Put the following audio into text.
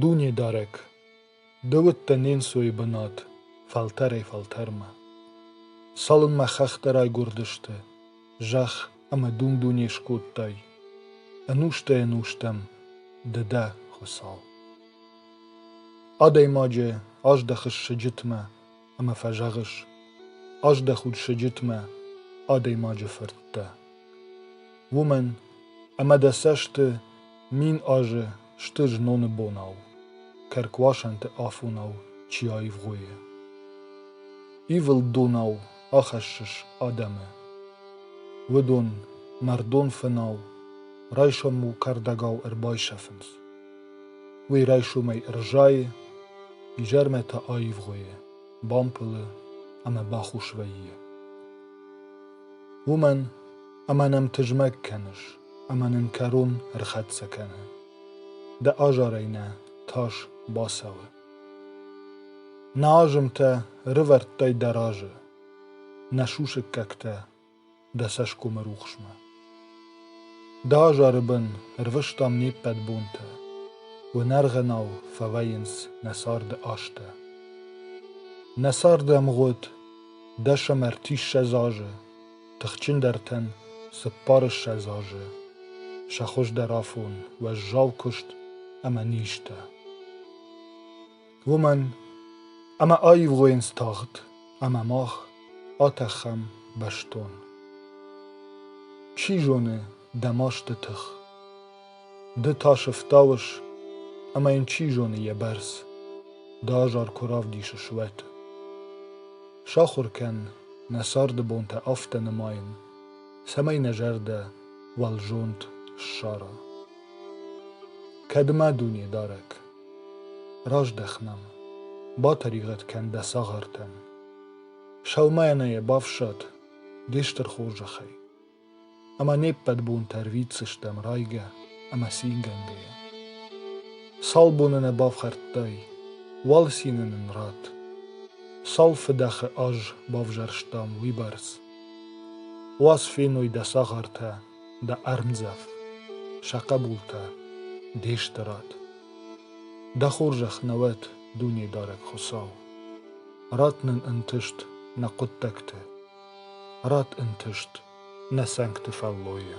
Дунедарӕг, ды уыдтӕ не нцойы бынат фӕлтӕрӕй-фӕлтӕрмӕ. Цалынмӕ хӕхтӕ райгуырдысты, зӕхх ӕмӕ дун-дуне скодтай, ӕнустӕ-ӕнустӕм ды дӕ, Хуыцау. Адӕймаджы аздӕхыс сыджытмӕ ӕмӕ фӕзӕгъыс: аздӕх уд сыджытмӕ, адӕймаджы фырттӕ. Уымӕн ӕмӕ дӕ цӕсты мин азы сты зноны бонау, кӕркуасӕнты афонау чи аивгъуыйы. Ивылд донау ахӕссыс адӕмы. Уыдон мӕрдон фынау, райсом-иу кӕрдӕгау ӕрбайсӕфынц. Уый райсомӕй ӕрзайы, изӕрмӕ та аивгъуыйы, бампылы ӕмӕ бахус вӕййы. Уымӕн ӕмӕ нӕм тызмӕг кӕныс ӕмӕ нын кӕрон ӕрхӕццӕ кӕны. Дӕ азарӕй нӕ тас бацӕуы. Нӕ азымтӕ рывӕрдтӕй дӕ разы, нӕ сусӕггӕгтӕ дӕ цӕсгомы рухсмӕ. Дӕ азары бын ӕрвыстам не ппӕт бонтӕ, уынӕргъынау фӕвӕййынц нӕ царды азтӕ. Нӕ царды ӕмгъуыд дӕсӕм ӕртиссӕдз азы, тыхджындӕртӕн цыппарыссӕдз азы, сӕ хуыздӕр афон, уӕззау куыст ӕмӕ низтӕ. уымӕн ӕмӕ аивгъуыйынц тагъд ӕмӕ мах атӕхӕм бӕстон. Чи зоны дӕ масты тых, ды та сыфтауыс, ӕмӕ йын чи зоны йӕ бӕрц дӕ азар куы равдисыс, уӕд. Сахуыр кӕн нӕ царды бонтӕ афтӕ нымайын, цӕмӕй нӕ зӕрдӕ уӕлзонд ссара. Кӕд ма дуне дарӕг Раздӕх нӕм, батӕригъӕд кӕн дӕ цагъартӕн. Сӕумӕйӕ нӕ йӕ бафсад де стыр хорзӕхӕй, ӕмӕ не ппӕт бонтӕ рвитдзыстӕм райгӕ ӕмӕ цингӕнгӕйӕ. Цал боны нӕ бафхӕрдтай, уал цины нын ратт. Цал фыдӕхы аз бавзӕрстам уыйбӕрц. Уас феной дӕ цагъартӕ дӕ ӕрмдзӕф, сӕ хъӕбултӕ, де стырад. Дӕ хорзӕх нӕ уӕд, Дунедарӕг Хуыцау! Ратт нын ӕнтыст нӕ хъуыддӕгты, ратт ӕнтыст нӕ цӕнгты фӕллойы.